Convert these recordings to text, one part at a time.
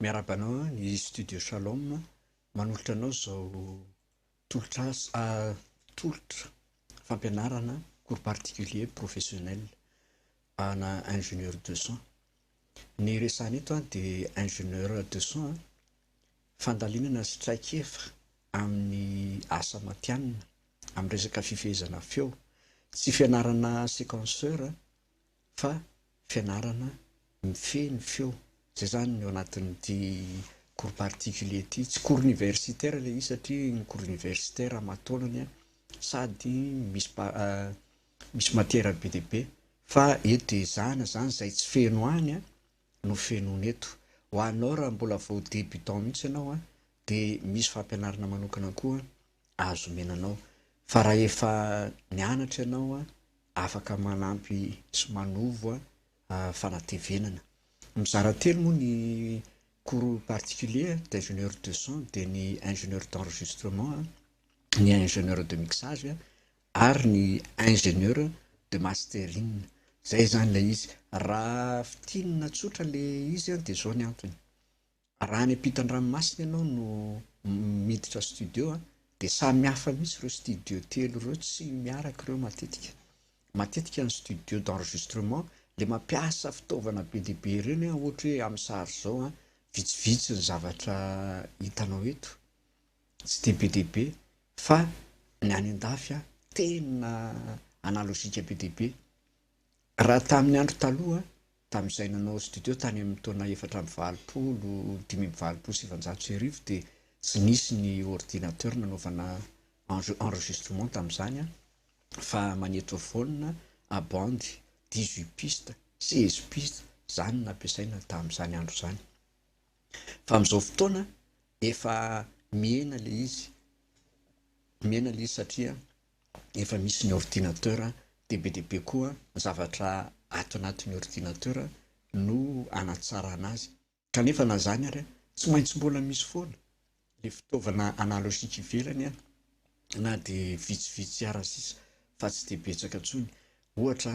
Miarahaba anao ny Studio Shalom manolotra anao izao tolotra asa tolotra fampianarana cours particulier professionnel ana ingénieur de son. Ny resahana eto dia ingénieur de son fandalinana sy traikefa amin'ny asa matihanina amin'ny resaka fifehezana feo. Tsy fianarana sequenceur. fa fianarana mifehy ny feo, izay izany ny ao anatin'ity cours particulier ity, tsy cours universitaire ilay izy satria ny cours universitaire amataonany sady misy misy matière be dia be fa eto dia ezahana izany izay tsy feno any no fenoina eto. Ho anao raha mbola vao débutant mihitsy ianao de misy fampianarana manokana koa azo omena anao fa raha efa nianatra ianao afaka manampy sy manovo fanatevenana. Mizara telo moa ny cours particulier d'ingénieur de son de ny ingénieur d'enregistrement, ny ingénieur de mixage ary ny ingénieur de mastering zay zany ilay izy, raha fintinina tsotra le izy an de zao ny antony, raha any ampitan-dranomasina ianao no miditra studio an de samy hafa mihitsy ireo studio telo ireo tsy miaraka ireo matetika, matetika ny studio d'enregistrement le mampiasa fitaovana be dia be ireny an ohatra hoe amin'ny sary zao an vitsivitsy ny zavatra hitanao eto. Tsy dia be dia be fa ny any an-dafy tena analozika be dia be. Raha tamin'ny andro taloha, tamin'izay nanao studio tany amin'ny taona efatra amby valopolo, dimy amby valopolo sy sivinjato sy arivo dia tsy nisy ny ordinateur nanaovana enregistrement tamin'izany fa magnétophone à bande dix-huit pistes, seize pistes, izany no nampiasaina tamin'izany andro izany. Fa amin'izao fotoana efa mihena ilay izy, mihena ilay izy satria efa misy ny ordinateur dia be dia be koa ny zavatra ato anatin'ny ordinateur no hanatsarana azy. Kanefa na izany ary tsy maintsy mbola misy foana ilay fitaovana analogique ivelany na dia vitsivitsy ara sisa fa tsy dia betsaka intsony. Ohatra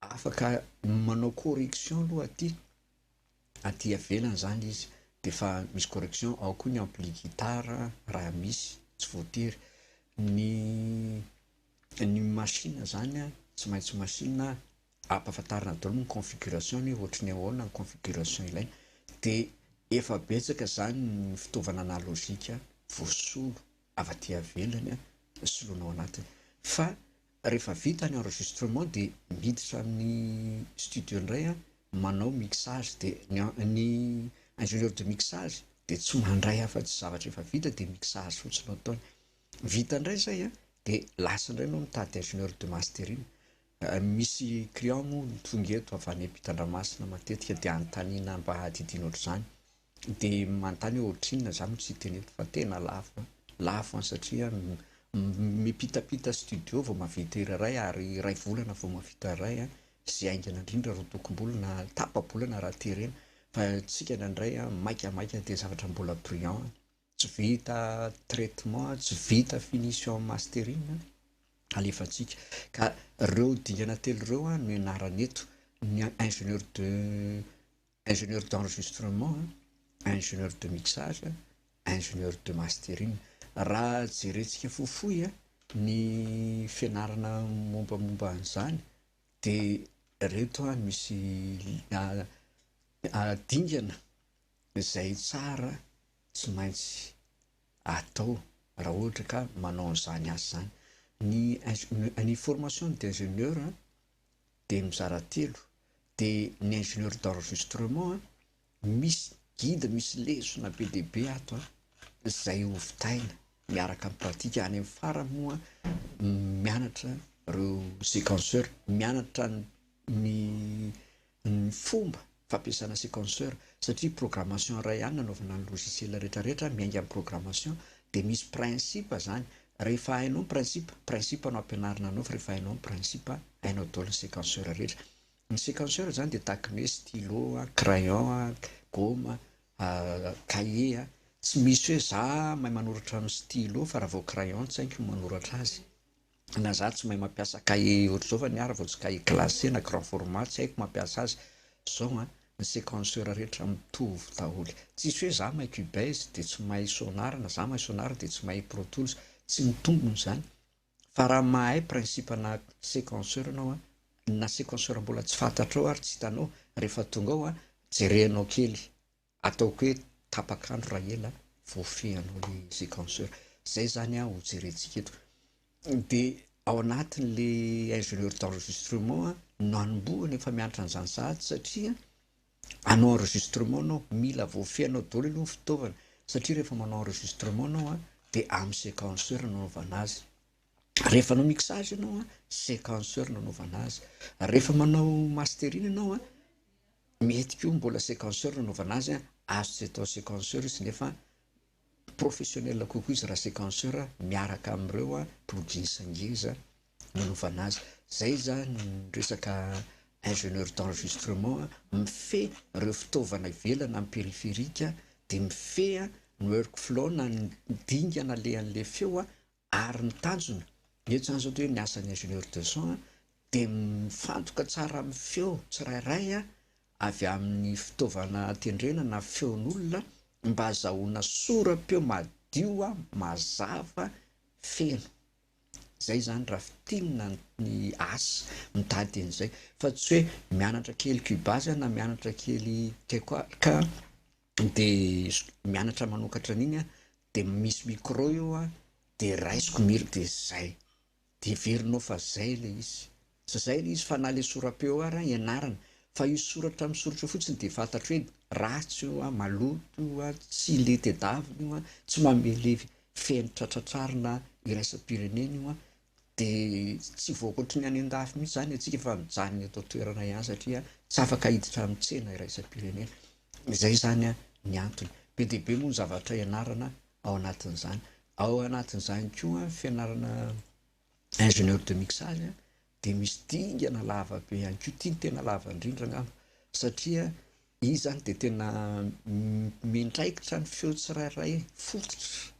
Afaka manao correction aloha aty aty ivelany zany izy de efa misy correction ao koa ny ampli guitar raha misy tsy voatery ny ny machine zany a tsy maintsy machine a ampafantarina daholo ny configuration ny ohatry ny ahoana ny configuration ilaina de efa betsaka zany ny fitaovana analogique voasolo avy aty ivelany a soloina ao anatiny fa Rehefa vita ny enregistrement dia miditra amin'ny studio indray aho manao mixage dia ny ingénieur de mixage dia tsy mandray afatsy zavatra efa vita dia mixage fotsiny no ataony. Vita indray izay an, dia lasa indray enao mitady ingénieur de mastering. Misy client moa tonga eto avy any ampitandramasina matetika dia anontaniana mba adidiana ohatr'izany. de manontany hoe ohatrinona za no tsy hiteny eto fa tena lafo a, lafo an satria mipitapita studio vao mahavita hira iray ary iray volana vao mahavita iray a, zay haingana indrindra ro tokom-bola na tapa-bolana raha terena fa antsika indraindray a maika maika de zavatra mbola brillant a, tsy vita traitement a, tsy vita finition mastering a, alefantsika ka reo dingana telo reo a no ianarana eto, ny ingénieur de ingénieur d'enregistrement, ingénieur de mixage, ingénieur de mastering. Raha jerentsika fohifohy ny fianarana mombamomba an'izany dia ireto no misy dingana izay tsara tsy maintsy atao raha ohatra ka manao an'izany asa izany, ny ny formation d'ingénieur dia mizara telo, dia ny ingénieur d'enregistrement an, misy guide misy lesona be dia be ato an, izay hovitaina miaraka amin'ny pratique, any amin'ny farany moa mianatra ireo séquenceur, mianatra ny ny fomba fampiasana sequenceur satria programmation iray ihany nanaovana ny logiciel rehetra rehetra miainga amin'ny programmation dia misy principe izany rehefa hainao ny principe, principe no ampianarina anao fa rehefa hainao ny principe hainao daholo ny sequenceur rehetra, ny sequenceur izany dia tahaka ny hoe stylo, crayon, gôma, cahier, tsy misy hoe za mahay manoratra amin'ny stylo fa raha vao crayon tsy haiko ny manoratra azy. Na za tsy mahay mampiasa cahier ohatr'izao fa niara vao tsy cahier classé na grand format tsy haiko mampiasa azy zao an, ny sequenceur rehetra mitovy daholo tsisy hoe za mahay cubase de tsy mahay sonar na za mahay sonar de tsy mahay pro tools tsy ny tombony zany fa raha mahay principe na sequenceur anao an, na sequenceur mbola tsy fantatrao ary tsy hitanao rehefa tonga ao an, jerenao kely. Ataoko hoe tapaka andro raha ela vao fehinao le sequenceur. Zay zany an ho jerentsika eto. De ao anatin le ingénieur d'enregistrement no anombohana efa mianatra an'zany sahady satria hanao enregistrement anao mila vao fehinao daholo aloha ny fitaovana satria rehefa manao enregistrement anao an de amin'ny sequenceur no anaovana azy. Rehefa hanao mixage anao an sequenceur no anaovana azy. Rehefa manao mastering anao an. Mety koa mbola sequenceur no anaovana azy an! Azo tsy atao sequenceur izy nefa professionnel kokoa izy raha sequenceur miaraka amin'ireo plugins ngeza no anaovana azy. Izay izany ny resaka ingénieur d'enregistrement mifehy ireo fitaovana ivelany amin'ny périphérique dia mifehy ny workflow na ny dingana alehan'ilay feo ary ny tanjona, ny etsy zany zao dia hoe ny asan'ny ingénieur de son dia mifantoka tsara amin'ny feo tsirairay avy amin'ny fitaovana tendrena na feon'olona mba hazahoana sora-peo madio, mazava, feno. Izay izany raha fintinina ny asa, mitady an'izay fa tsy hoe mianatra kely cubase na mianatra kely tecoal ka. dia mianatra manokatra an'iny aho, dia misy micro eo aho, dia raisiko ny hira dia izay, dia heverinao fa izay ilay izy, tsy izay ilay izy fa na ilay sora-peo ary aho ianarana, fa io soratra amin'ny soratra io fotsiny dia fantatro hoe ratsy io an, maloto io an, tsy le tedavina io an, tsy mamelevy fenitra tratrarina iraisam-pirenena io an, dia tsy voakoatry ny any an-dafy mihitsy izany antsika fa mijanona eto an-toerana ihany satria tsy afaka hiditra amin'ny tsena iraisam-pirenena. Izay izany ny antony. Be dia be moa ny zavatra ianarana ao anatin'izany. Ao anatin'izany koa ny fianarana ingénieur de mixage dia misy dingana lava be ihany koa. Ity no tena lava indrindra angamba satria io izany dia tena miandraikitra ny feo tsirairay fototra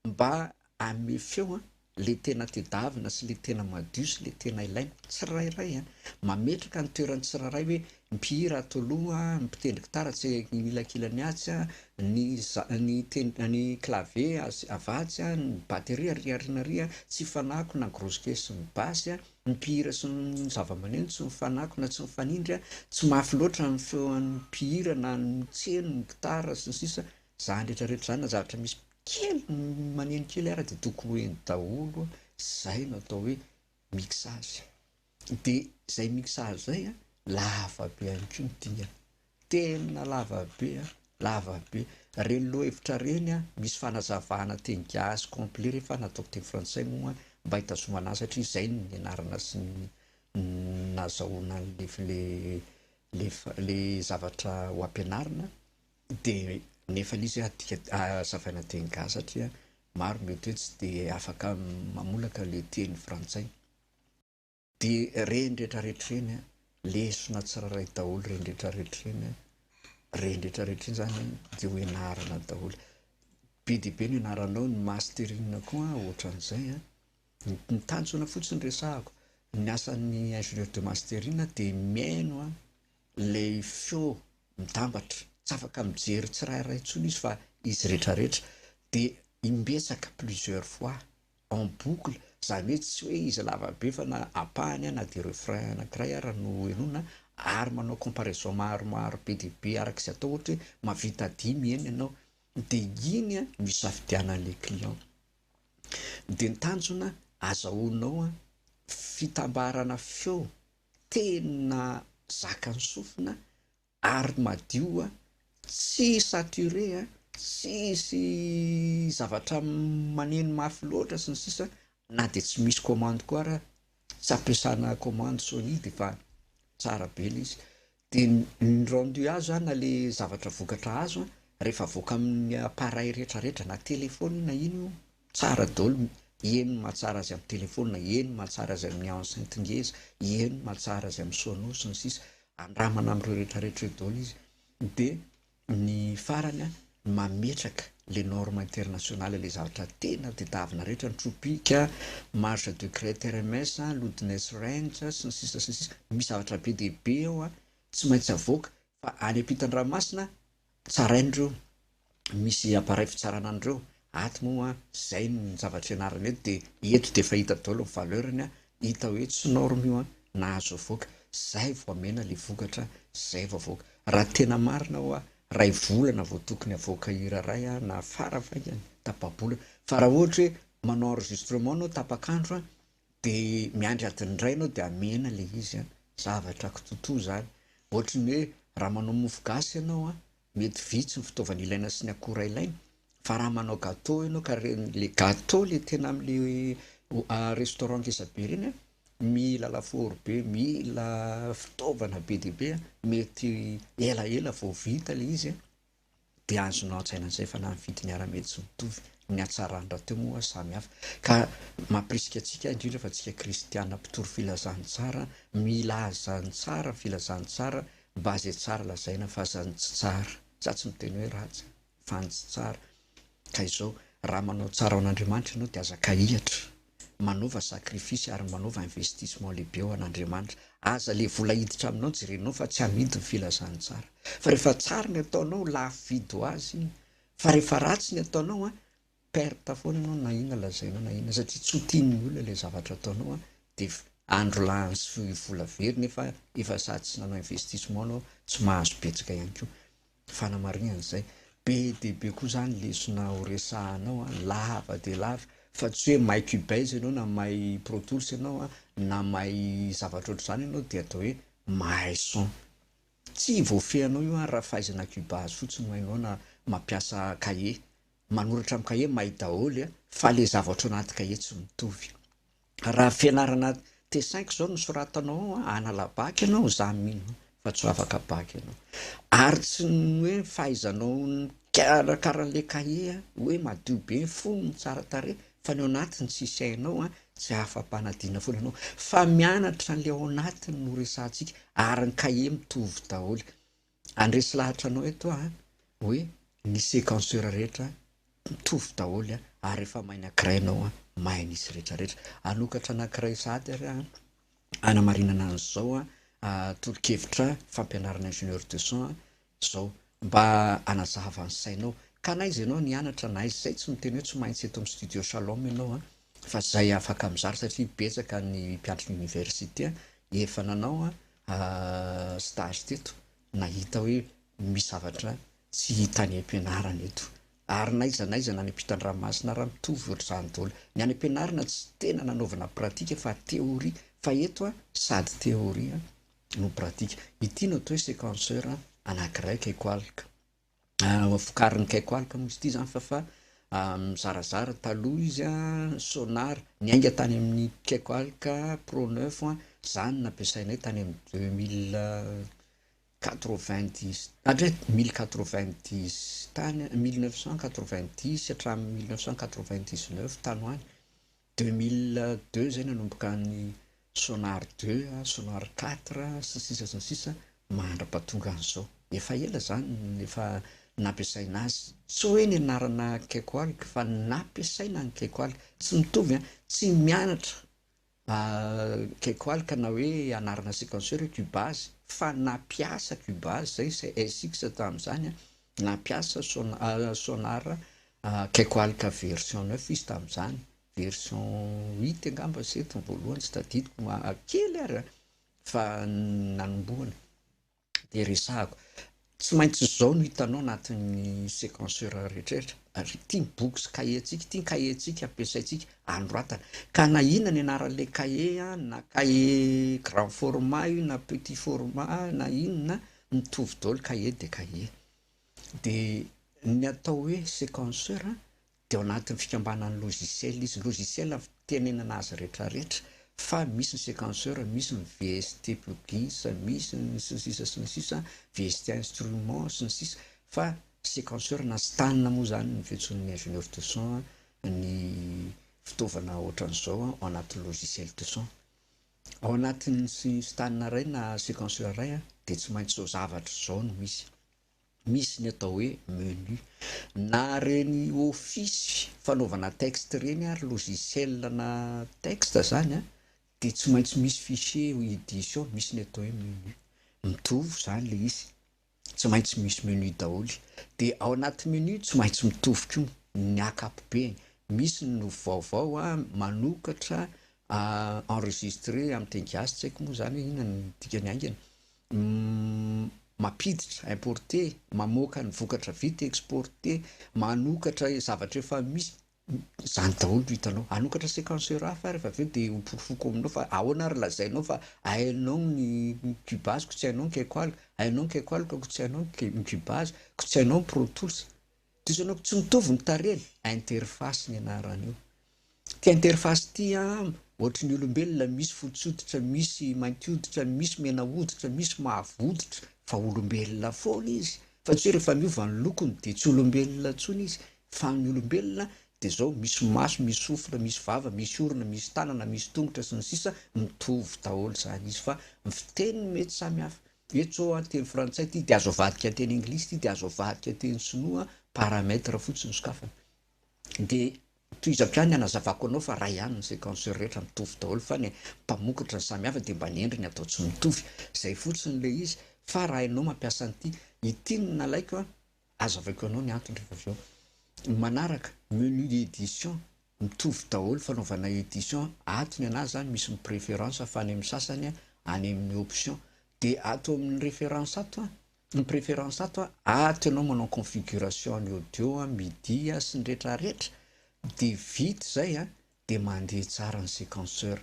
Mba anome feo an, le tena tedavina sy le tena madio sy le tena ilaina, tsirairay an, mametraka ny toeran'ny tsirairay hoe mpihira ato aloha, ny mpitendry gitara atsy anilakilany atsy an, ny za, ny ten, ny clavier atsy avatsy an, ny batterie ary aoriana ary an, tsy hifanako na grosse caisse sy ny basse an, ny mpihira sy ny zavamaneno tsy mifanako na tsy mifanindry an, tsy mafy loatra ny feon'ny mpihira na ny tseno, ny gitara sy ny sisa, zany retraretra zany na zavatra misy kely maneno kely ary de tokony ho eny daholo zay no atao hoe mixage de zay mixage zay a lava be ihany koa ny dingana tena lava be a lava be reny lohahevitra reny a misy fanazavana teny gasy complet rehefa nataoko teny frantsay moa mba hitazomana azy satria zay no nianarana sy ny nazahoana le le le zavatra ho ampianarina Dia nefa izy adika hazavaina teny gasy satria maro mety hoe tsy dia afaka mamolaka le teny frantsay. Dia reny rehetra rehetra reny lesona tsirairay daholo reny rehetra rehetra reny reny rehetra rehetra reny zany dia ho enarana daholo. Be dia be ny anaranao ny mastering koa ohatran'izay a. Ny tanjona fotsiny resahako ny asan'ny ingénieur de mastering dia mihaino a ilay feo mitambatra, tsy afaka mijery tsirairay intsony izy fa izy retraretra dia imbetsaka plusieurs fois en boucle zany hoe tsy hoe izy lava be fa na ampahany na dia refrain anakiray ara no henoina ary manao comparaison maromaro be dia be araka izay atao ohatra hoe mavita dimy heno ianao dia iny a no isafidianan'ilay client dia ny tanjona azahoanao a fitambarana feo tena zakan'ny sofina ary madio a, tsy saturé a, tsisy zavatra maneno mafy loatra sy ny sisa na dia tsy misy commande koa ara tsy ampiasana commande Sony dia efa tsara be ilay izy, Dia ny rendu azo an, na le zavatra vokatra azo an, rehefa avoaka amin'ny appareil retraretra na telephone na ino io, tsara daholo, eny ny mahatsara azy amin'ny telephone, eny ny mahatsara azy amin'ny enceinte ngeza, eny ny mahatsara azy amin'ny sonos sy ny sisa, andramana amin'ireo retraretra ireo daholo izy, dia Ny farany an, ny mametraka le norme international ilay zavatra tena tedavina rehetra, ny tropic, marge de crête RMS, loudness range sy ny sisa sy ny sisa, misy zavatra be dia be ao an, tsy maintsy avoaka fa any ampitan-dranomasina tsaraina ireo, misy appareil fitsarana an'ireo, Ato moa zay ny zavatra ianarana eto dia eto dia efa hita daholo ny valeur-ny an, hita hoe tsy norme io an, nahazo avoaka, zay vao amena le vokatra, zay vao avoaka. Raha tena marina hoa ray volana vao tokony havoaka hira ray an, na fara faingany tapa-bolana, fa raha ohatra hoe manao enregistrement anao tapak'andro an, dia miandry adiny iray anao dia amena le izy an, zavatra kitotoa zany, ohatry ny hoe raha manao mofo gasy ianao an, Mety vitsy ny fitaovana ilaina sy ny akora ilaina fa raha manao gateau ianao ka le gateau le tena amle restaurant ngeza be reny an, mila lafaoro be, mila fitaovana be dia be an, mety elaela vao vita le izy an, de azonao an-tsaina zay fa na ny vidiny ara mety tsy mitovy, ny hatsarany rahateo moa samy hafa ka mampirisika antsika indrindra fa antsika kristiana mpitory filazantsara mila azy zany tsara ny filazantsara Mba ze tsara lazaina fa aza ny tsy tsara, za tsy miteny hoe ratsy fa ny tsy tsara ka izao raha manao tsara ho an'Andriamanitra ianao dia aza kahihatra, manova sacrifice ary manova investissement lehibe ho an'Andriamanitra, aza le vola hiditra aminao jerenao fa tsy amidy ny filazan'ny tsara fa rehefa tsara ny ataonao lafo vidy ho azy iny fa rehefa ratsy ny ataonao an perte foana ianao na inona lazaina na inona satria tsy ho tian'ny olona ilay zavatra ataonao an, dia andro lany sy vola very nefa efa sady tsy nanao investissement ianao, tsy mahazo betsaka ihany koa. Fanamarihana izay. Be dia be koa izany lesona ho resahanao an, lava dia lava fa tsy hoe may cubase ianao na may pro tools ianao an, na may zavatra ohatr'izany ianao dia atao hoe mahay son. Tsy voafehinao io an raha fahaizana cubase fotsiny no hainao na mampiasa cahier. manoratra amin'ny kahie mahay daholo a, fa le zavatra ao anaty kahie tsy mitovy. Raha fianarana T-cinq zao no soratanao ao a, hanala bac ianao, za mino fa tsy ho afaka bac ianao. Ary tsy ny hoe fahaizanao mikarakara an'le kahie a, hoe madio be ny fonony, tsara tarehy, fa ny ao anatiny tsisy hainao a, tsy afa-panadinana foana ianao. Fa mianatra an'le ao anatiny no resahantsika, ary ny kahie mitovy daholo. Handresy lahatra anao eto aho hoe ny sequenceur rehetra mitovy daholo ary rehefa mahay ny ankiray ianao mahay ny izy rehetra rehetra. Hanokatra anankiray sahady ary aho hanamarinana an'izao tolo-kevitra fampianarana ingénieur de son izao mba hanazava ny sainao ka na iza ianao no hianatra na iza izay tsy miteny hoe tsy maintsy eto amin'ny studio shalom ianao fa izay afaka mizara satria betsaka ny mpiantrona oniversite efa nanao stage teto nahita hoe misy zavatra tsy hita any am-pianarana eto ary na aiza na aiza na any am-pitan-dranomasina ary mitovy ohatr'izany daholo. Ny any am-pianarana tsy tena nanaovana pratika fa théorie fa eto sady théorie no pratika. Ity no atao hoe sequenceur anankiray kay koa alika. vokarin'ny Caicowalk moa izy ity zany fa fa mizarazara, taloha izy an Sonar niainga tany amin'ny Caicowalk pro neuf an, zany nampiasainay tany amin'ny deux mille quatre vingt dix hatry mille quatre vingt dix tany, mille neuf cent quatre vingt dix hatramin'ny mille neuf cent quatre vingt dix neuf tany ho any. Deux mille deux zay nanomboka any sonar deux, sonar quatre sy ny sisa sy ny sisa mandra-pahatonga an'izao. Efa ela izany no efa nampiasaina azy. Tsy hoe ny anarana Kekoalg fa ny nampiasaina ny Kekoalg. Tsy mitovy an! Tsy mianatra Kekoalg na hoe anarana sequenceur hoe Cubase fa nampiasa Cubase izay sy SX tamin'izany an, nampiasa sonar Akaiky alika version neuf izy tamin'izany, version huit angamba sa eto ny voalohany tsy tadidiko, kely ary an, fa nanombohana dia resahako, tsy maintsy izao no hitanao anatin'ny sequenceur rehetrarehetra, ary ity ny boky sy kahie antsika, ity ny kahie antsika ampiasaintsika anoratana, ka na inona ny anaran'ilay kahie an, na kahie grand format io na petit format na inona an, mitovy daholo, kahie dia kahie. Dia ny atao hoe sequenceur dia ao anatin'ny fikambanan'ny logiciel izy. Logiciel no fitenenana azy rehetrarehetra fa misy ny sequenceur, misy ny VST plugins, misy ny sy ny sisa sy ny sisa, VST instrument sy ny sisa fa sequenceur na stan moa izany no fiantsoan'ny ingénieur du son ny fitaovana ohatran'izao ao anatin'ny logiciel du son. Ao anatin'ny stan iray na sequenceur iray dia tsy maintsy izao zavatra izao no misy, misy ny atao hoe menu na ireny office fanaovana texte ireny ary logiciel ana texte izany dia tsy maintsy misy fichier edition misy ny atao hoe menu, mitovy izany ilay izy. tsy maintsy misy menu daholo dia ao anaty menu tsy maintsy mitovy koa ny akapobeny misy ny no vaovao a manokatra a enregistré amin'ny teny gasy tsy haiko moa izany hoe inona ny dikany haingana mampiditra importé mamoaka ny vokatra vita exporté manokatra zavatra efa misy Zany daholo no hitanao. Hanokatra séquence Euraff ary fa avy eo dia ho porofoko aminao fa ahoana ary lazainao fa hainao ny Cubase ko tsy hainao ny Quechol, hainao ny Quechol ko tsy hainao ny Cubase, ko tsy hainao ny Pro Tools. Diso anao ko tsy mitovy ny tarehiny. Interface ny anaran'io. Ity interface ity an, ohatry ny olombelona misy fotsy hoditra, misy mainty hoditra, misy mena hoditra, misy mavo hoditra fa olombelona foana izy fa tsy hoe rehefa miova ny lokony dia tsy olombelona intsony izy. Fa ny olombelona dia zao misy maso, misy sofina, misy vava, misy orona, misy tanana, misy tongotra, sy ny sisa Mitovy daholo zany izy fa ny fiteny no mety samy hafa. Eto zao an, teny frantsay ity dia azo avadika an teny anglisy ity dia azo avadika teny sinoa, paramètre fotsiny no sokafana. Dia tohizako ihany ny hanazavako anao fa ray ihany ny sequenceur rehetra mitovy daholo fa ny mpamokatra no samy hafa dia mba ny endriny atao tsy mitovy. Zay fotsiny ilay izy. Fa raha enao mampiasa an'ity, ity no nalaiko an, Azavaiko anao ny antony rehefa avy eo. Ny manaraka, menu edition, mitovy daholo fanaovana edition, ato ny anazy zany misy ny préférence fa any amin'ny sasany any amin'ny option. Dia ato amin'ny référence ato an, ny préférence ato an, ato ianao manao configuration ny audio, midi sy ny retraretra dia vita izay an, dia mandeha tsara ny séquenceur.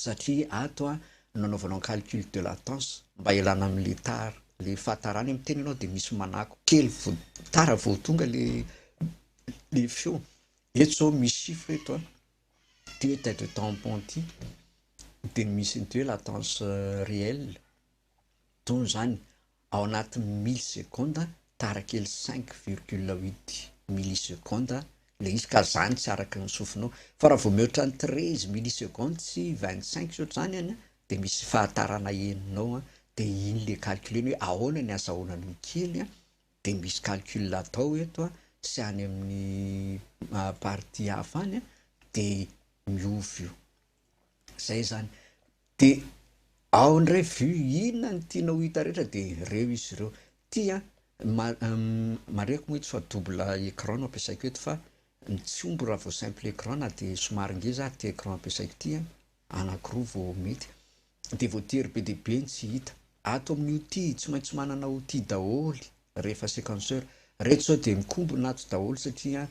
satria ato no nanaovanao ny calcul de latence mba hialana amin'ilay tara, ilay fahatarana iny, miteny ianao dia misy manako kely vao tara vao tonga ilay ilay feo, eto izao misy chiffre eto an, ity hoe tête de tampon ity dia misy an'ity hoe latence réelle. Don zany ao anatin'ny milli seconde tara kely cinq virgule huit milli seconde le izy ka zany tsy araka ny sofinao fa raha vao mihoatra ny treize milli seconde sy vingt cinq sy ohatr'izany any de misy fahatarana henonao an de iny le calculer-ny hoe ahoana ny azahoana an'io kely an de misy calcul atao eto an sy any amin'ny partie hafa any an de miova io. Zay zany. De ao ndray vue inona ny tianao hita rehetra de reo izy ireo. Ty an, marihiko moa eto fa double écran no ampiasaiko eto fa tsy homby raha vao simple écran na dia somary ngeza ary ty écran ampiasaiko ty an, anakiroa vao mety. De voatery be dia be ny tsy hita. Ato amin'io ty tsy maintsy manana outil daholo rehefa sequenceur. Reto zao de mikombona ato daholo satria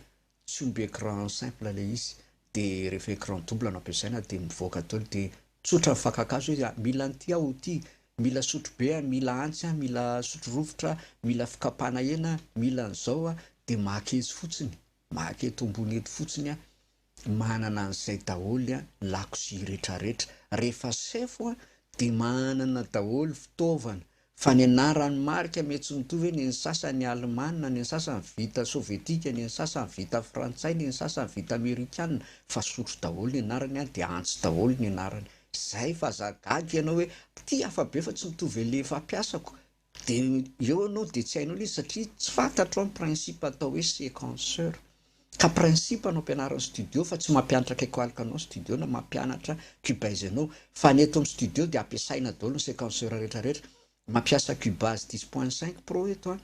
tsy omby écran simple le izy de rehefa écran double no ampiasaina de mivoaka daoly de tsotra ny fakakazo izy a, mila an'ity aho ity, mila sotro be a, mila antsy a, mila sotro rovitra a, mila fikapana hena a, mila an'zao a, de maka etsy fotsiny, maka eto ambony eto fotsiny a, manana an'zay daoly a, ny lakozia retraretra, rehefa sefo a de manana daoly fitaovana Fa ny anaran'ny marika mety tsy mitovy, ny ny sasany alemana, ny ny sasany vita sovietika, ny ny sasany vita frantsay, ny ny sasany vita amerikana, fa sotro daholo ny anarany an, dia antsy daholo ny anarany. Izay fa za gaga ianao hoe ity hafa be fa tsy mitovy an'ilay fampiasako, dia eo ianao dia tsy hainao ilay izy satria tsy fantatro an ny principe atao hoe sequenceur. Ka principe no ampianariny studio fa tsy mampianatra kekoalika anao studio na mampianatra cubase anao fa ny eto am studio dia ampiasaina daholo ny sequenceur rehetra rehetra mampiasa cubase dix point cinq pro eto an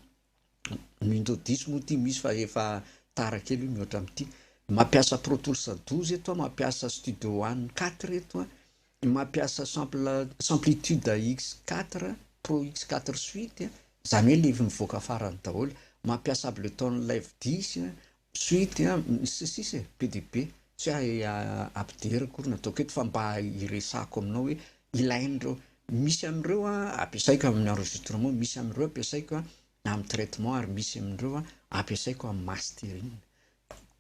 ny window dix moa ity misy fa efa tara kely io mihoatra am ty mampiasa pro tools douze eto an mampiasa studio one quatre eto an Mampiasa sample samplitude x quatre pro x quatre suite a, izany hoe ilay mivoaka farany daholo, mampiasa Ableton Live dix a, suite a, sy sisa e, be dia be. Tsy hoe ampidera akory no ataoko eto fa mba hiresahako aminao hoe ilain'ireo, misy amin'ireo ampiasaiko amin'ny enregistrement, misy amin'ireo ampiasaiko amin'ny traitement ary misy amin'ireo ampiasaiko amin'ny mastering.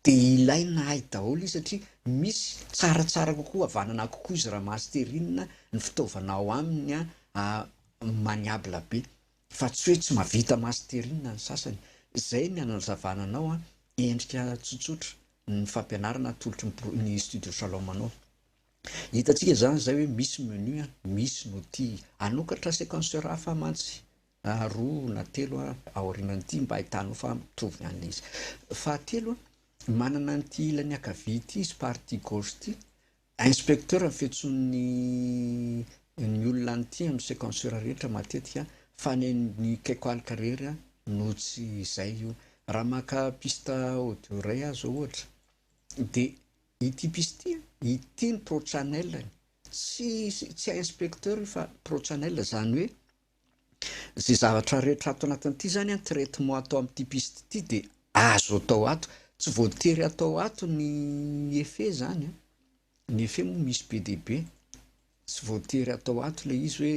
Dia ilaina ahy daholo izy satria misy tsaratsara kokoa havanana kokoa izy raha masterina ny fitaovana ao aminy an, maniable be fa tsy hoe tsy mahavita masterina ny sasany. Izay ny anazavana anao an, endrika tsotsotra ny fampianarana atolotry ny studio shalom anao. Hitantsika izany izay hoe misy menu an, misy ny outil, hanokatra sequenceur hafa mantsy na roa na telo a, aorianan'ity mba ahitanao fa mitovy an'ilay izy. Fahatelo a, manana an'ity ilany ankavia ity izy, partie gauche ity, inspecteur ny fiantsoan'ny ny olona an'ity amin'ny sequenceur rehetra matetika fa ny an'ny Quecalc irery a no tsy izay io. Raha maka piste audio iray aho izao ohatra dia ity piste ity a, ity ny pro channel-ny, tsy tsy inspecteur io fa pro channel, izany hoe Izay zavatra rehetra ato anatin'ity izany an, traitement atao amin'ity piste ity dia azo atao ato. Tsy voatery atao ato ny effet izany an. Ny effet moa misy be dia be. Tsy voatery atao ato ilay izy hoe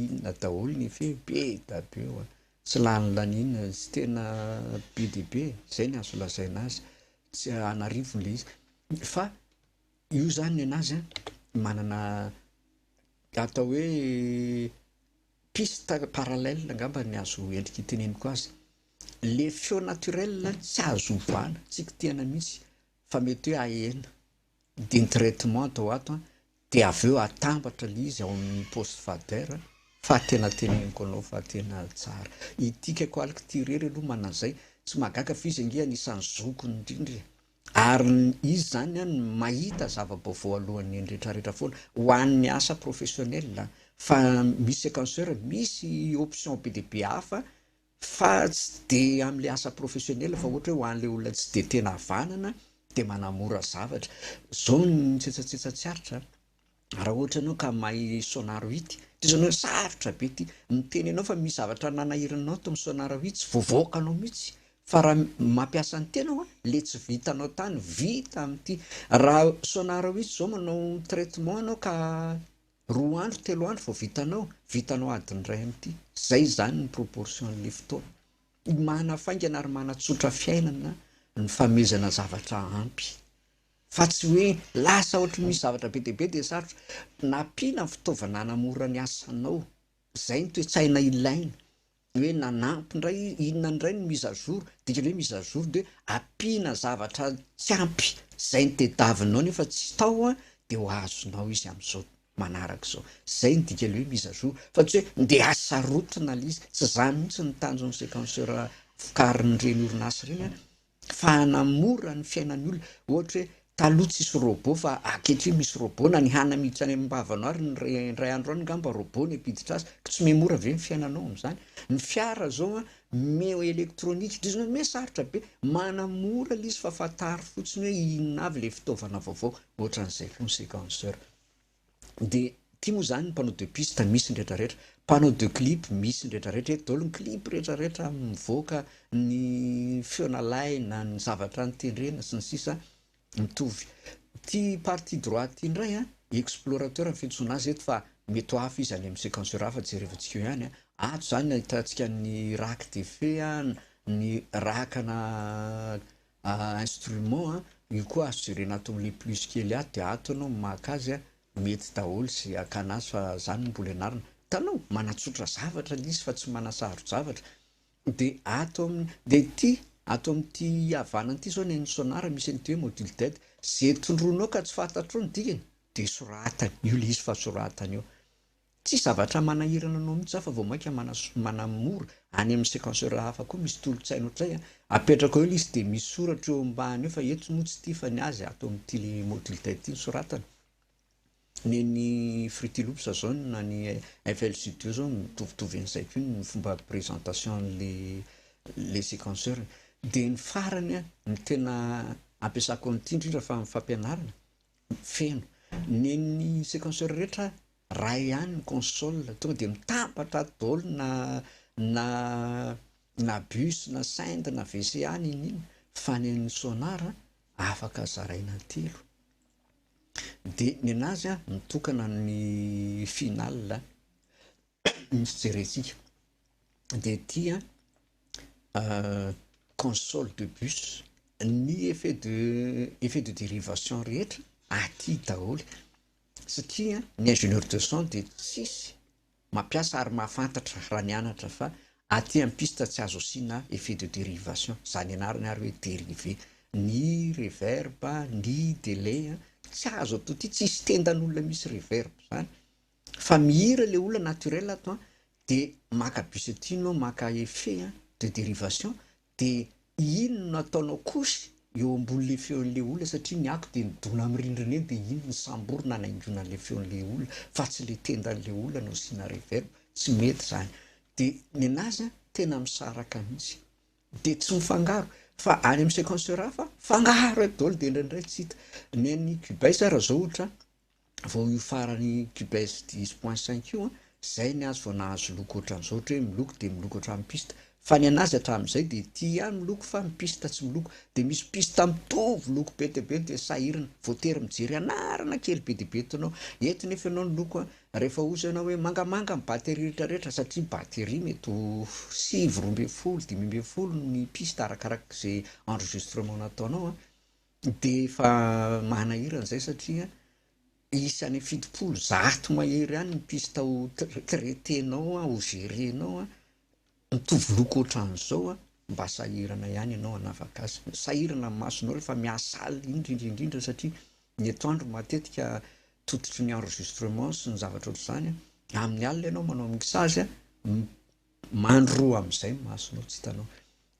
inona daholo ny effet, be dia be ho'a. Tsy lany laniana, tsy tena be dia be e. Izay no azo lazaina azy. Tsy an'arivony ilay izy. Fa Io izany nenazy an, manana atao hoe piste parallèle angamba ny azo endrika iteneniko azy. Le feo naturel tsy azo ovana, tsy kitihana mihitsy fa mety hoe ahena de ny traitement atao ato an, de avy eo atambatra le izy ao amin'ny poste fader fa tena teneniko anao fa tena tsara. Ity Cacoalcty irery aloha manana an'izay, tsy mahagaga fa izy ange anisan'ny zokiny indrindra e. Ary izy izany an, mahita zava-baovao alohan'ny ny retraretra foana, ho an'ny asa professionnel an, fa misy sequenceur, misy option be dia be hafa fa tsy dia amin'ilay asa professionnel fa ohatra hoe ho an'ilay olona tsy dia tena havanana dia manamora zavatra. Izao ny mitsetsatsetsa tsy aritra an. Raha ohatra ianao ka mahay sonarohit, toy izany hoe sarotra be ity, miteny ianao fa misy zavatra nanahiranao tao amin'ny sonarohit, tsy voavaokanao mihitsy, fa raha mampiasa ny tenao an, ilay tsy vitanao tany vita amin'ity. Raha sonarohit izao manao traitement ianao ka roa andro, telo andro vao vitanao, vitanao adiny iray amin'ity. Izay izany ny proportion-n'ilay fotoana. Manafaingana ary manatsotra fiainana ny famehezana zavatra ampy. Fa tsy hoe lasa ohatry ny misy zavatra be dia be dia sarotra. Nampiana ny fitaovana hanamora ny asanao. Izay ny toe-tsaina ilaina. Hoe nanampy indray, inona indray no mise à jour. Dikany hoe mise à jour dia hoe ampiana zavatra tsy ampy izay no tadiavinao nefa tsy tao dia ho azonao izy amin'izao manaraka izao. Izay no dikany hoe mise à jour. Fa tsy hoe ndeha hasarotina ilay izy. Tsy izany mihitsy no tanjon'ny sequenceur vokarin'ireny orinasa ireny. fa hanamora ny fiainan'ny olona, ohatra hoe taloha tsisy robot fa ankehitriny misy robot, na ny hana miditra any am-bavano ary ny re indray andro any ngamba robot ny hampiditra azy, ko tsy me mora ve ny fiainanao amin'izany? Ny fiara zao an, me ho électronique ndry zany me sarotra be, manamora le izy fa fantaro fotsiny hoe inona avy le fitaovana vaovao, ohatran'izay consequenceur. Dia ity moa izany mpanao de piste misy ny rehetra rehetra, mpanao de clip misy ny rehetra rehetra eto, daholo ny clip rehetra rehetra mivoaka, ny feo nalaina, ny zavatra notendrena sy ny sisa mitovy. Ity partie droite ity indray an, explorateur no fiantsoana azy eto fa mety ho hafa izy any amin'ny sequenceur hafa jerevantsika eo ihany an, ato izany no ahitantsika ny rack d'effet an, ny rack ana instrument an, io koa azo jerena ato amin'ilay plus kely ato dia ato ianao maka azy an, mety daholo izay hakana azy fa zany no mbola ianarana, hitanao? manatsotra zavatra ilay izy fa tsy manasaro-javatra, dia ato amin'ny, dia ity ato amin'ity havanana ity izao ny an'ny sonar misy an'ity hoe module d'aide, izay tondroinao ka tsy fantatrao ny dikany dia soratany, io ilay izy fa soratany eo. Tsy zavatra manahirana anao mihitsy hafa vao mainka manamora any amin'ny sequenceur hafa koa misy tolotsaina ohatr'izay an! Apetrako eo ilay izy dia misy soratra eo ambany eo fa eto moa tsy ity fa ny azy ato amin'ity module ten ity no soratana. Ny an'ny Fruity Loops izao na ny FL Studio izao mitovitovy an'izay koa ny fomba présentation an'ilay sequenceur. Dia ny farany an, ny tena ampiasako an'ity indrindra fa amin'ny fampianarana, feno. Nen'ny sequenceur rehetra raha ihany ny console tonga dia mitambatra daholo na na na bus na synd na VCA na inn inn fa nen'ny sonar afaka zaraina telo dia nenazy mitokana ny final ny fijerentsika dia tia console de bus, ny effet de effet de derivation rehetra aty daholo satria ny ingénieur de son dia tsisy mampiasa ary mahafantatra raha nianatra fa aty amin'ny piste tsy azo asiana effet de derivation, izany ianarana ary hoe derive, ny reverb, ny delay, tsy azo ato aty, tsisy tendan'olona misy reverb izany Fa mihira le olona naturel ato an, de maka bus aty enao maka effet an de derivation de iny no ataonao couche eo ambony le feon'le olona satria ny ato de midona am rindrina eny de iny no samborina anaingoina anle feon'le olona fa tsy le tendan'le olona no asiana reverb, tsy mety zany. De ny anazy an tena misaraka mihitsy de tsy mifangaro fa any am sequenceur hafa fangaro eo daholo de indraindray tsy hita. Ny an'i Cubase raha zao ohatra an. vao io farany cubes dix point cinq io an, zay ny azy vao nahazo loko ohatran'izao ohatra hoe miloko dia miloko ohatran'ny piste, fa ny anazy hatramin'izay dia ity ihany miloko fa ny piste tsy miloko, dia misy piste mitovy loko be dia be dia sahirana, voatery mijery anarana kely be dia be eto ianao, eto nefa ianao ny loko an, rehefa ohatra ianao hoe mangamanga ny batterie rehetra rehetra satria batterie mety ho sivy roa ambin'ny folo dimy ambin'ny folo ny piste arakarak'izay enregistrement nataonao an, Dia efa manahirana izay satria isa any fitopolo, zato mahery any ny piste ho traiter-nao, ho gerer-nao. Mitovy loko ohatran'izao, mba sahirana ihany ianao hanavaka azy. Sahirana ny masonao rehefa miasaly, indrindra indrindra satria ny etoandro matetika tototry ny enregistrement sy ny zavatra ohatr'izany, amin'ny alina ianao manao mixage, Mandro roa amin'izay ny masonao tsy hitanao.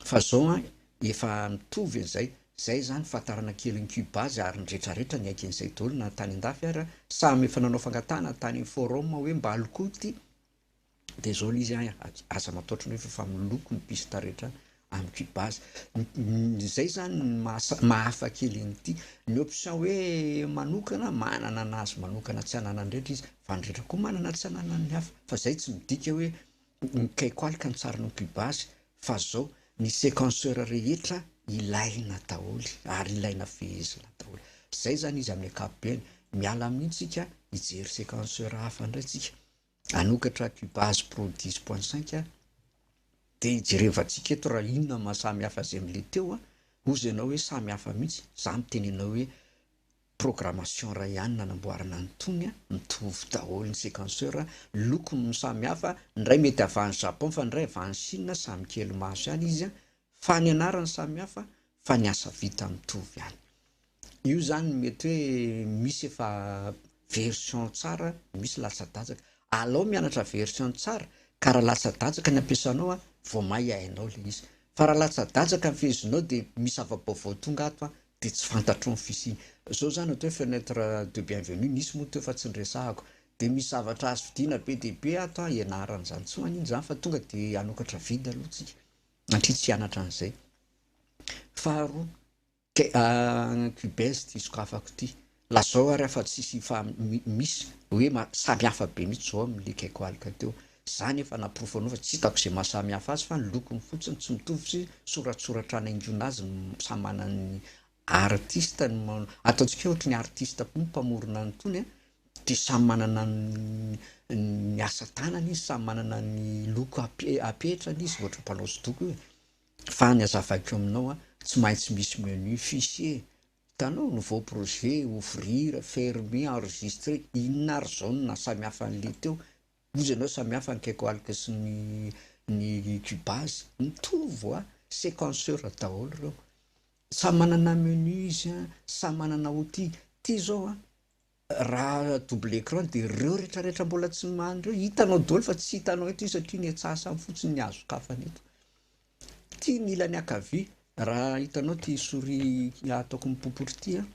Fa zao an, efa mitovy an'izay, zay izany fantarana kely an'i Cuba azy ary ny retraretra niaiky an'izay daholo na tany an-dafy ary samy efa nanao fangatahana tany amin'ny forum hoe mba alokoty dia zao ilay izy an, aza mataotra anao efa fa miloko ny pista rehetra Ampy base. Izay izany no maha-hafa kely an'ity. Ny option hoe manokana, manana ny azy manokana tsy ananan'ny rehetra izy, fa ny rehetra koa manana ny tsy ananan'ny hafa. Fa izay tsy midika hoe nikaiko aloka ny tsarin'ny ampy base fa izao, ny sequenceur rehetra ilaina daholo ary ilaina fehezina daholo. Izay izany izy amin'ny ankapobeny. Miala amin'iny isika hijery sequenceur hafa indray isika. hanokatra Cubase Pro dix point cinq a, dia hijerevantsika eto raha inona no maha-samy hafa azy amin'ilay teo a, hozy ianao hoe samy hafa mihitsy, izaho miteny anao hoe programmation iray ihany nanamboarana an'itony a, mitovy daholo ny sequenceur, lokony no samy hafa, ny iray mety avy any Japon fa ny iray avy any Chine, samy kely maso ihany izy a, fa ny anarany samy hafa fa ny asa vita mitovy ihany. Io izany mety hoe misy efa version tsara, misy latsa-datsaka. Alao mianatra version tsara ka raha latsa-datsaka ny ampiasanao an, vao may hainao ilay izy. Fa raha latsa-datsaka ny fehezinao dia misy zava-baovao tonga ato an, dia tsy fantatrao ny fisiany. Izao izany atao hoe fenêtre de bienvenue, nisy moa teo fa tsy niresahako. Dia misy zavatra azo vidiana be dia be ato an, ianarana izany. Tsy maninona izany fa tonga dia hanokatra vide aloha tsika. Satria tsy hianatra an'izay. Faharoa, an cubain zty sokafako ity, lazao ary afa tsisy misy hoe samy hafa be mihitsy zao amle quecoalc teo, za nefa naporofo anao fa tsy hitako ze maha samy hafa azy fa ny lokony fotsiny tsy mitovy sy soratsoratra hanaingoina azy samy manana ny Artiste no manao, ataontsika ohatry ny artiste koa ny mpamorona an'itony a, satria samy manana ny asa tanany izy, samy manana ny loko apetrany izy ohatry ny mpanao hosodoko io e. Fa ny hazavaiko aminao a, tsy maintsy misy menu fichier, hitanao, nouveau projet, ouvrir, fermer, enregistrer, inona ary zao no naha samy hafa an'le teo? Hozy ianao samy hafa ny kekoalika sy ny ny cubase, mitovy hoa, sequenceur daholo reo. Samy manana menu izy an, samy manana outil. Ity izao an, raha double écran dia ireo rehetra rehetra mbola tsy many ireo hitanao daholo fa tsy hitanao eto izy satria ny etsy asany fotsiny ny azon-kafany eto. Ity ny ilany ankavia, raha hitanao ity souris ataoko mipopotry ity an,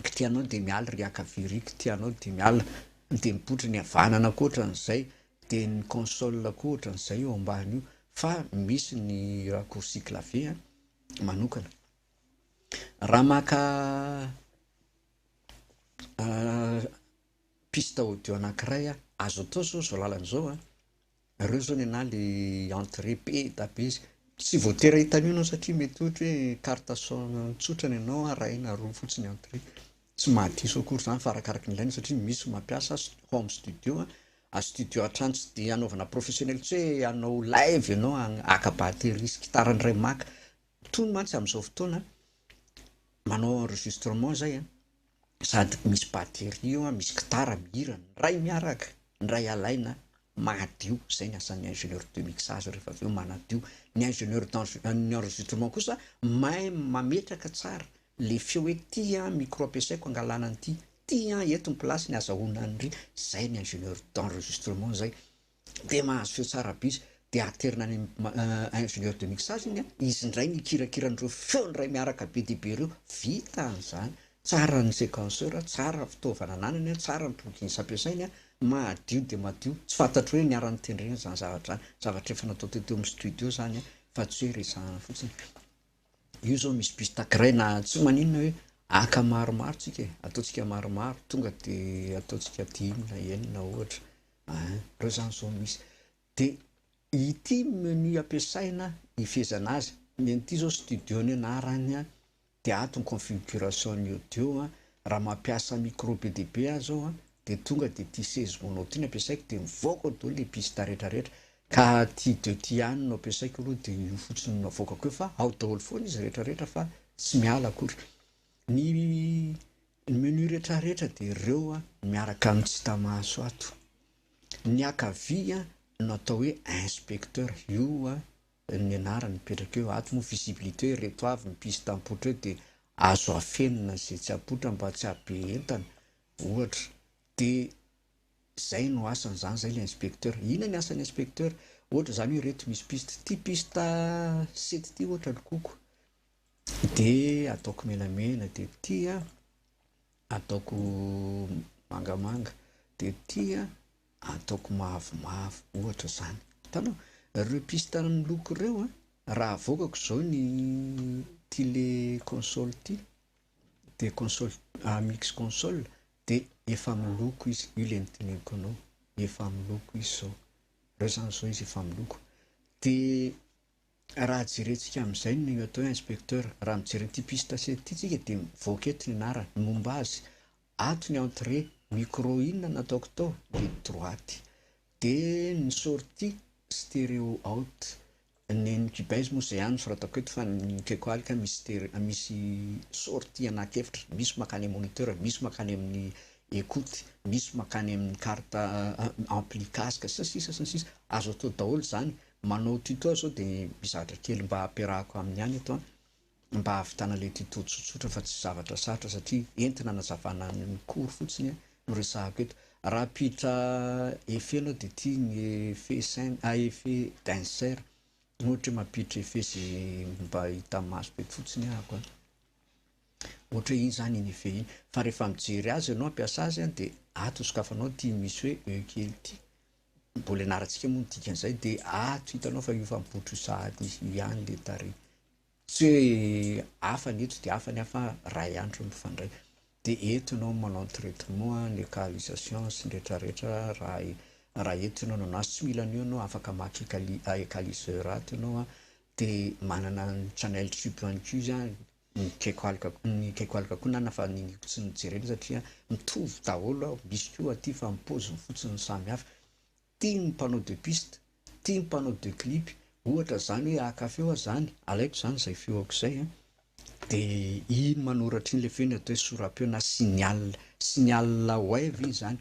kitihanao dia miala ery ankavia ery, kitihanao dia miala, dia mipotry ny havanana koa ohatran'izay, dia ny console koa ohatran'izay eo ambany io, fa misy ny raccourci clavier an, manokana. Raha maka piste audio anankiray aho, azo atao zao zao lalana zao an, nareo zao nenah le entré be da be izy, tsy voatery ahita an'io enao satria mety ohatra hoe carte son tsotra nenao arahina roa fotsiny entré, Tsy maha diso akory izany fa arakaraky ny ilaina satria misy ny mampiasa home studio, studio an-trano tsy dia anaovana professionnel tsy hoe hanao live ianao haka batterie sy gitara ny iray maka, tony mantsy amin'izao fotoana manao enregistrement izay an, sady misy batterie eo an, misy gitara mihira, ny iray miaraka, ny iray alaina. mahadio, zay ny asan'ny ingénieur de mixage rehefa avy eo manadio, ny ingénieur d'enregis-, enregistrement kosa mahay mametraka tsara le feo hoe ty an micro ampiasaiko angalana an'ity, ty an eto ny place-ny azahoana an'ry, zay ny ingénieur d'enregistrement zay, de mahazo feo tsara be izy de aterina any amin'ny ingénieur de mixage iny an, izy ndray mikirakira an'ireo feo ndray miaraka be dia be ireo, vita zany, Tsara ny séquenceur, tsara fitaovana ananany an, tsara ny plugins ampiasainy an, madio dia madio, tsy fantatro hoe niara notendrena izany zavatra izany, zavatra efa natao teo teo amin'ny studio izany an, fa tsy hoe resahana fotsiny, io izao misy piste grey na tsy maninona hoe haka maromaro tsika e, ataontsika maromaro tonga dia ataontsika dimy na enina ohatra, an, reo izany izao misy. Dia ity menu ampiasaina hifehezana azy, ny an'ity zao studio ny anarany, dia ato ny configuration ny audio, raha mampiasa micro be dia be aho zao an, dia tonga dia ity seize mono ity no ampiasaiko dia mivoaka ao daholo le piste rehetra rehetra, ka ity deux ty ihany no ampiasaiko aloha dia io fotsiny no avoakako eo fa ao daholo foana izy rehetra rehetra fa tsy miala akory, ny menu rehetra rehetra dia ireo miaraka amin'ny tsy hita maso ato. Niakavia no atao hoe inspecteur io ny anarany mipetraka eo ato moa visibilité ireto avy ny piste ampoitra eo dia azo afenina izay tsy ampoitra mba tsy hahabe entana ohatra dia izay no asany izany izay ilay inspecteur, inona ny asan'ny inspecteur? ohatra izany hoe ireto misy piste ity piste sept ity ohatra lokoko dia ataoko menamena dia ity an. Ataoko mangamanga de ty a ataoko mavomavo ohatra zany. Hitanao? Reo piste amin'ny loko reo a raha avoakako zao ny ty le console ty de console a mix console de efa miloko izy, io le nodinihiko anao, efa miloko izy zao, reo zany zao izy efa miloko de Raha jerentsika amin'izay no atao hoe inspecteur, raha mijery an'ity piste sept ity tsika dia mivoaka eto ny anarany, momba azy, ato ny entrée, micro inona no ataoko tao, ligne droite, dia ny sortie, stereo out, ny an'ny cubase moa izay ihany no soratako eto fa ny Keko Alika misy stereo, misy sortie anaty efitra, misy mankany amin'ny moniteur, misy mankany amin'ny écoute, misy mankany amin'ny carte ampli casque sy ny sisa sy ny sisa, azo atao daholo izany Manao tuto aho zao de mizatra kely mba ampiarahako aminy ihany eto an! mba hahavitana le tuto tsotsotra fa tsy zavatra sarotra satria entina anazavana ny cours fotsiny an! no resahako eto. Raha ampiditra effet enao de ty ny effet scène ah effet d'insert ohatra hoe mampiditra effet ze mba hitan'ny maso be fotsiny ahako an! ohatra hoe iny zany iny effet iny fa rehefa mijery azy enao hampiasa azy an! de ato sokafanao ty misy hoe e kely ty. Mbola ianarantsika moa ny dikan'izay dia ato hitanao fa io fampihotro io sahady io ihany le tarehy. Tsy hoe hafa ny eto dia hafa ny hafa ray andro no mifandray. Dia eto ianao manao ny traitement, ny ekalisation sy ny rehetra rehetra raha raha eto ianao no an'azy. Tsy mila an'io ianao afaka maka ekali- ekaliseur ato ianao dia manana ny channel tube ihany koa izy an. ny kekoalika ny kekoalika koa nana fa ny niko tsy nojerena satria mitovy daholo aho misy koa aty fa ny poziny fotsiny no samy hafa tia ny mpanao de piste tia ny mpanao de clip ohatra zany hoe haka feo aho zany alaiko zany zay feoko zay an de iny manoratra iny le feo iny atao hoe soram-peo na signal signal wave iny zany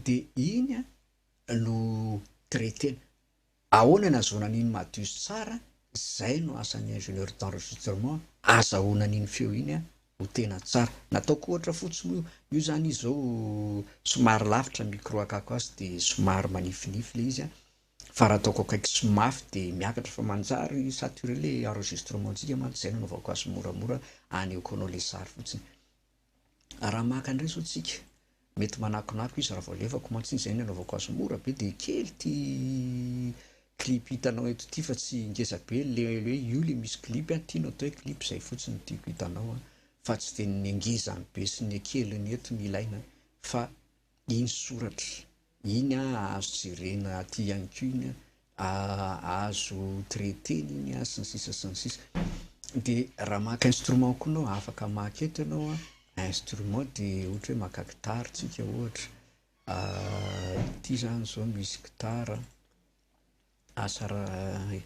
de iny an no traitena Ahoana nazahoana an'iny Madius tsara Zay no asan'ny ingénieur d'enregistrement azahoana an'iny feo iny a ho tena tsara Nataoko ohatra fotsiny io Io zany izy zao somary lavitra ny micro akako azy de somary manifinify le izy a Fa raha ataoko akaiky sy mafy de miakatra fa manjary saturé le enregistrement ntsika mantsy Zay no anaovako azy moramora anehoako anao le sary fotsiny. raha maka indray zao tsika, mety manakonako izy raha vao alefako mantsy zay ny anaovako azy mora be de kely ty clip hitanao eto ty fa tsy ngeza be le hoe io le misy clip an, ty no atao hoe clip zay fotsiny no tiako hitanao an, fa tsy de ny ngezany be sy ny keliny eto no ilaina fa iny soratra. Iny azo jerena aty ihany koa iny azo traiter-na iny sy ny sisa sy ny sisa dia raha maka instrument koa enao afaka maka eto enao an instrument dia ohatra hoe maka gitara tsika ohatra ity zany zao misy gitara asa raha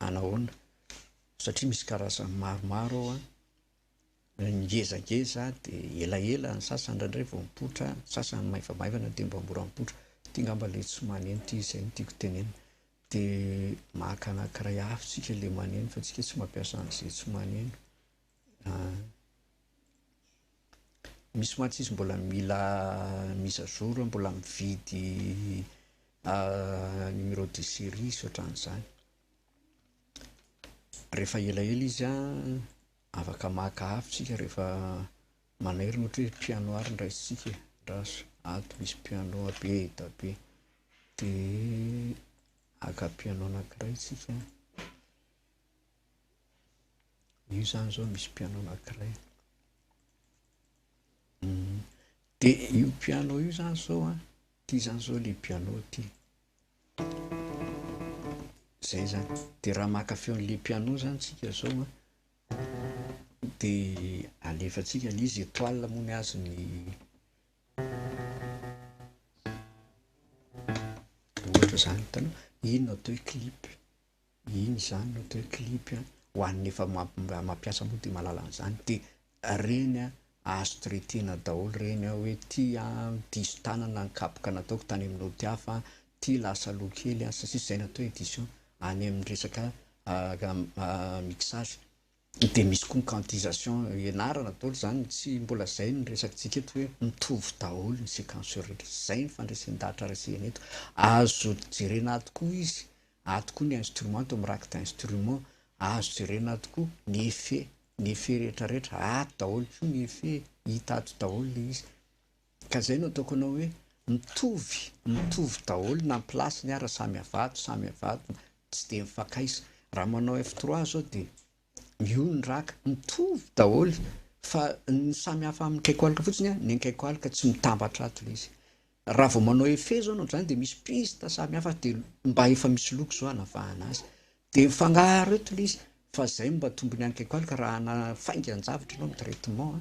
anahoana satria misy karazany maromaro ao an Ngezangeza de elaela ny sasany indraindray vao mipoitra, ny sasany maivamaivana de mba mora mipoitra. Ty ngamba le tsy maneno ty, zay no tiako tenenina. De maka anankiray hafa tsika le maneno fa tsika tsy mampiasa an'izay tsy maneno. Misy mantsy izy mbola mila mise à jour hoe mbola mividy numéro de serie sy ohatran'izany. Rehefa elaela izy an. Afaka maka avy tsika rehefa manairy ohatra hoe piano ary ny raisintsika e, andraso ato misy piano be da be de haka piano anakiray tsika, io zany zao misy piano anakiray, de io piano io zany zao an, ty zany zao le piano ty. Zay zany, de raha maka feon'le piano zany tsika zao an, de alefatsika le izy etoile moa ny azy ny ohatra zany, hitanao? ino no atao hoe clip? Iny izany no atao hoe clip a, ho an'ny efa mampiasa moa dia mahalala an'izany dia ireny a azo traiter-na daholo ireny a, hoe ity a diso tanana ny kapoka nataoko tany amin'ny naoty hafa, ity lasa lo kely a, sy ny sisa, izay no atao hoe edition any amin'ny resaka mixage. Dia misy koa ny quantisation ianarana daholo izany, tsy mbola izay no resakitsika eto hoe mitovy daholo ny sequenceurs rehetra. Tsy izay ny fandresen-dahatra resena eto. Azo jerena ato koa izy, ato koa ny instrument ato amin'ny rack d'instrument, azo jerena ato koa ny effet, ny effet rehetrarehetra, ato daholo koa ny effet, hita ato daholo ilay izy. Ka zay no ataoko anao hoe mitovy mitovy daholo na ny place ny ara samy avato samy avato tsy dia mifankaisa raha manao F trois zao dia io ny raka mitovy daholo fa ny samy hafa amin'ny kaikoalika fotsiny a ny kaikoalika tsy mitambatra ato le izy raha vao manao efe zao noho zany dia misy piste samy hafa dia mba efa misy loko zao anavahana azy dia mifagnaro eto le izy fa zay mba tombony any kaikoalika raha ana faingan-javatra ianao amin'ny traitement a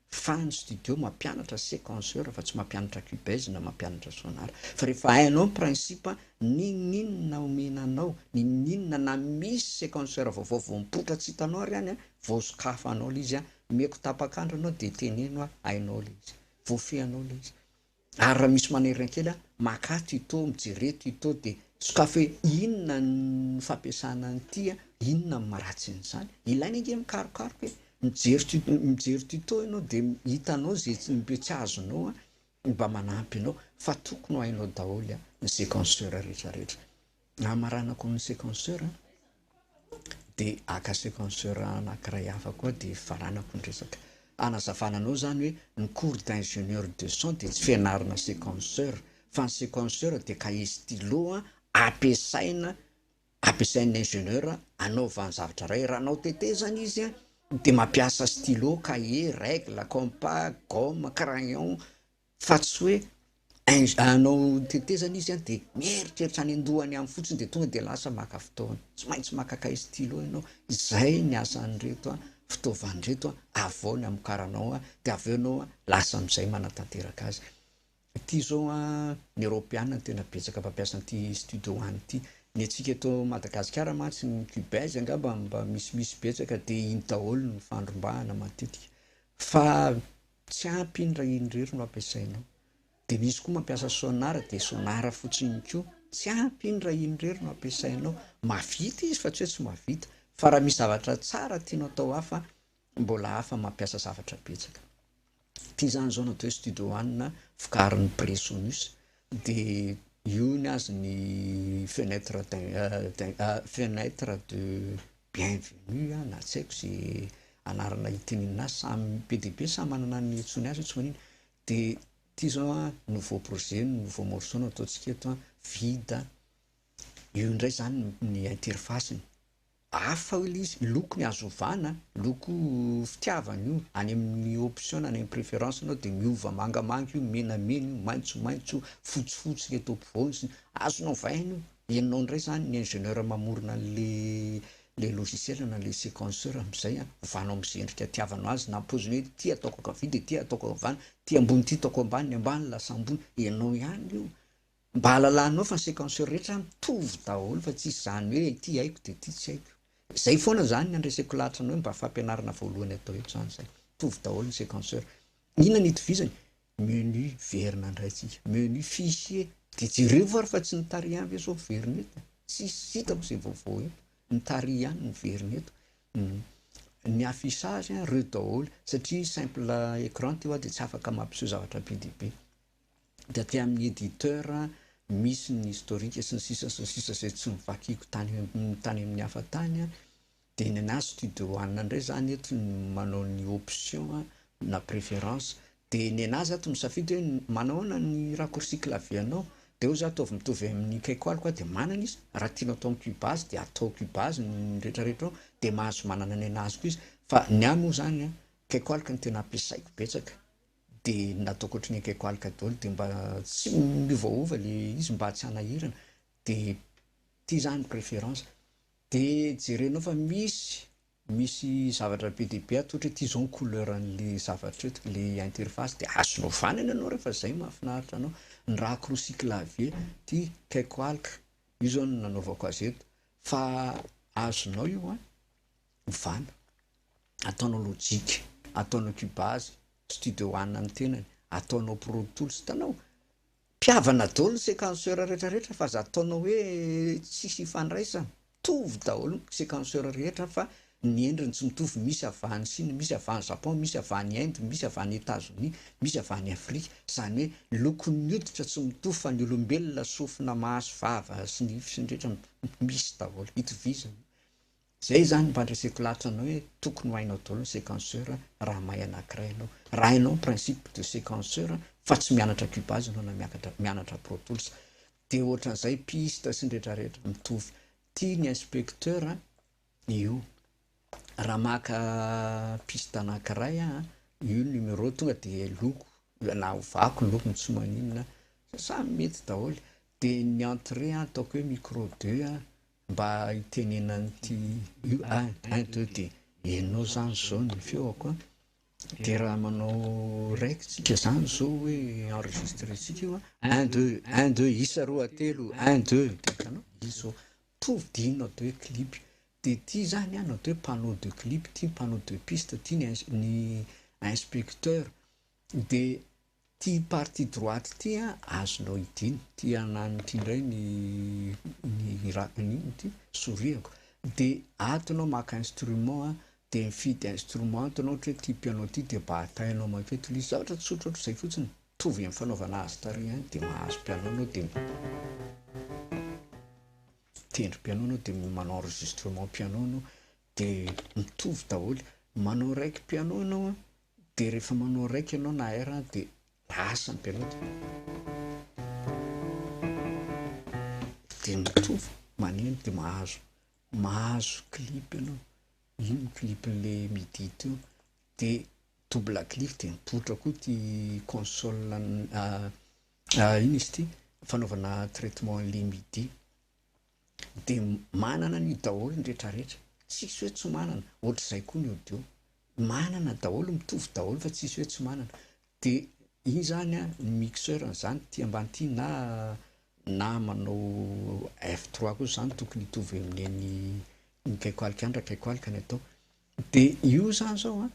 Fan ny studio mampianatra sequenceur fa tsy mampianatra cubase na mampianatra sonar fa rehefa hainao ny principe n'inon'inona omena anao n'inon'inona na misy sequenceur vaovao vao mipoitra tsy hitanao ary any vao sokafanao le izy a omeko tapak'andro anao de teneno a hainao le izy voafehinao le izy Ary raha misy manerina kely aho, maka ato ito, mijery eto ito dia sokafy hoe inona ny fampiasana an'ity a, inona ny maratsin'izany. Ilaina ange mikarokaroka e! Mijery tu- mijery tuto ianao dia hitanao ze tsy mbe tsy azonao a, mba manampy anao fa tokony ho hainao daholo ny sequenceur rehetra rehetra. Hamaranako ny sequenceur dia haka sequenceur anankiray hafa koa dia hifaranako ny resaka. Hanazavana anao izany hoe ny cours d'ingénieur de son dia tsy fianarana sequenceur fa ny sequenceur dia cahier stylo ampiasaina ampiasain'ny ingénieur hanaovany zavatra iray. Raha hanao tetezana izy dia mampiasa stylo, cahier, règle, compas, gomme, crayon, fa tsy hoe ing anao tetezana izy an de mieritreritra any an-dohany any fotsiny de tonga de lasa maka fotoana, tsy maintsy maka cahier stylo ianao, zay ny asan'ireto an fitaovana ireto an avy ao ny amokaranao an de avy eo ianao an lasa am'zay manatanteraka azy, ity izao an ny eropeana no tena betsaka mpampiasa an'ity studio one ity, ny antsika eto Madagasikara mantsy ny cubase angamba mba misimisy betsaka de iny daholo no fandrombahana matetika fa Tsy ampy iny raha iny irery no ampiasainao. Dia misy koa mampiasa sonar dia sonar fotsiny iny koa. Tsy ampy iny raha iny irery no ampiasainao. Mahavita izy fa tsy hoe tsy mahavita. Fa raha misy zavatra tsara tianao atao hafa, mbola hafa mampiasa zavatra betsaka. Ity izany izao natao hoe studio one vokarin'ny Presonus. Dia io ny azy ny fenêtre fenêtre de bienvenue na tsy haiko ze anarana itenenina azy samy be dia be samy manana ny antsoiny azy io tsy maninona dia ity izao an nouveau projet no nouveau morceau no ataontsika eto an vide io indray izany ny interface-ny. Hafa hoy ilay izy, loko ny azo ovana, loko fitiavana io, any amin'ny option any amin'ny préférence nao dia miova mangamanga io, menamena io, maitsomaitso io, fotsifotsy ilay eto ampovoany sy ny. Azonao ovaina io, henonao indray izany ny ingénieur mamorona an'ilay logiciel na ilay séquenceur amin'izay an, ovanao amin'izay endrika itiavanao azy na am-paoziny hoe ity ataoko ankavia dia ity ataoko havana, ity ambony ity ataoko ambany, ny ambany lasa ambony, henonao ihany io, Mba halalanao fa ny sequenceur rehetra mitovy daholo fa tsisy zany hoe ity haiko dia ity tsy haiko. Zay foana zany ny andreseko lahatra anao hoe mba fampianarana voalohany atao eto zany zay. Mitovy daholo ny sequenceur. Inona ny itovizany? Menu verina ndray tsika. Menu fichier. Dia jerevo ary fa tsy ny tary ihany ve zao verina eto e. Tsisy hitako zay vaovao eto. Ny tary ihany no verina eto. Ny affichage ireo daholo satria simple écran ty hoa dia tsy afaka mampiseho zavatra be dia be. dia aty amin'ny éditeur misy ny historique sy ny sisa sy ny sisa izay tsy novakiako tany tany amin'ny hafa tany dia ny anah studio one indray zany eto no manao ny option na préférence dia ny anah zah ato misafidy hoe manao ahoana ny raccourci clavier anao dia eo zah ataovy mitovy amin'ny caiko aliko dia manana izy raha tianao atao amin'ny cubase dia atao cubase ny retraretra ao dia mahazo manana ny anah azoko izy fa ny ahy moa zany an caiko aliko no tena ampiasaiko betsaka Dia nataoko ohatry ny ekeko aloka daholo dia mba tsy miovaova le izy mba tsy hanahirana dia ty zany préférence dia jerenao fa misy misy zavatra be dia be atolotra hoe ty zao ny couleur anle zavatra eto le interface dia azonao vanana ianao rehefa zay mahafinaritra anao ny racroci clavier ty ekeko aloka io zao no nanaovako azy eto fa azonao io an! Ovana. Ataonao logic. Ataonao cubase. Studio one ny tenany. Ataonao pro tools. Hitanao? Mpihavana daholo ny sequenceur rehetra rehetra fa aza ataonao hoe tsisy hifandraisany. Mitovy daholo ny sequenceur rehetra fa ny endriny tsy mitovy. Misy avy any Chine, misy avy any Japon, misy avy any Inde, misy avy any Etazonia, misy avy any Afrika. Izany hoe lokon'ny hoditra tsy mitovy fa ny olombelona sofina, maso, vava sy nify sy ny rehetra misy daholo. Itovizany. Zay zany mba andreseko lahatra anao hoe tokony ho hainao daholo ny sequenceur raha mahay anakiray ianao. Raha hainao ny principe de sequenceur fa tsy mianatra cubase ianao na miakatra mianatra pro tools de ohatran'izay piste sy ny retraretra mitovy. Tia ny inspecteur an io. Raha maka piste anakiray aho an io numero tonga de loko na ovako ny lokony tsy maninona samy mety daholo de ny entrée an ataoko hoe micro deux an Mba hitenenan'ity UAID ity. Ianao zany zao ny feoko an, de raha manao raikitra zany zao hoe enregistre tsika io an, un deux, un deux, isa roa telo, un deux, de hitanao izy zao todidiana atao hoe clip, de ity zany an atao hoe panneau de clip, ity panneau de piste, ity ny inspecteur, de Ty parti droite ty an azonao idina, ty ananiny ty ndray ny ny hirakany iny ity soriako de ato anao maka instrument an de mifidy instrument ato anao ohatra hoe ty piano ty de batainao makeo to le zavatra tsotra otrizay fotsiny mitovy am fanaovana azy tary ihany de mahazo piano anao de mitendry piano anao de manao enregistrement piano anao de mitovy daholo manao raiky piano anao an Dia rehefa manao raika ianao na air dia lasa ny mpianao dia mitovy maneno dia mahazo mahazo clip ianao, iny ny clip le midi teo dia double clic dia mipoitra koa ity console iny izy ity fanaovana traitement le midi. de manana an'io daholo ny rehetra rehetra, tsisy hoe tsy manana, ohatr'izay koa ny audio, manana daholo, mitovy daholo fa tsisy hoe tsy manana, de iny zany an ny mixeur an'izany ity ambany ity na na manao F trois kosa zany tokony hitovy amin'ny an'ny ny kaiko alika any raha kaiko alika ny atao, de io zany zao an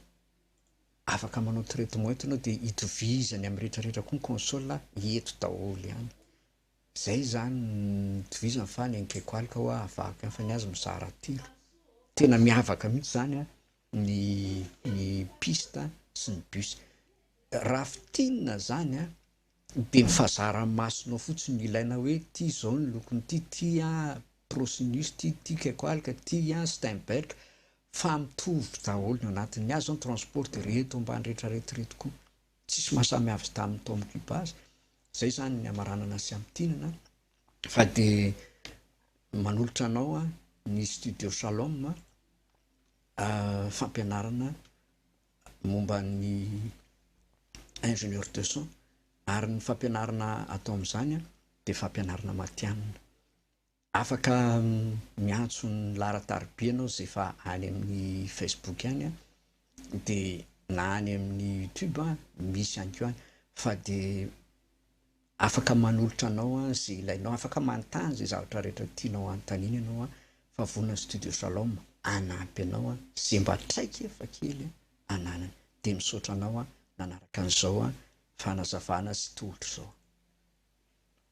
afaka manao traitement eto ianao de itovizany amin'ny rehetra rehetra koa ny console eto daholo ihany. Zay izany nitovizany fa ny an'i Kekoalika hoa avaky ihany fa ny azy mizara telo. Tena miavaka mihitsy zany a ny ny piste sy ny bus. Raha fintinina zany a de ny fahazara-masonao fotsiny no ilaina hoe ty zao ny lokon'ity, ty a Procinus, ty ty Kekoalika, ty a Steinberg fa mitovy daholo ny anatin'ny azy zao ny transport de reto ambany rehetra reto reto koa. Tsisy maha samy avy tamin'ny taomin'i Cuba azy, izay izany ny hamaranana sy hamintinana fa dia manolotra anao ny Studio Shalom fampianarana momba ny ingénieur de son ary ny fampianarana atao amin'izany dia fampianarana matihanina. Afaka miantso ny laharan-tariby ianao izay efa any amin'ny Facebook any an, dia na any amin'ny YouTube misy ihany koa any fa dia afaka manolotra anao izay ilainao, afaka manontany izay zavatra rehetra tianao hanontaniana ianao an, fa vonona ny Studio Shalom hanampy anao an, izay mba traikefa kely ananany. Dia misaotra anao nanaraka an'izao fanazavana sy tolotra izao.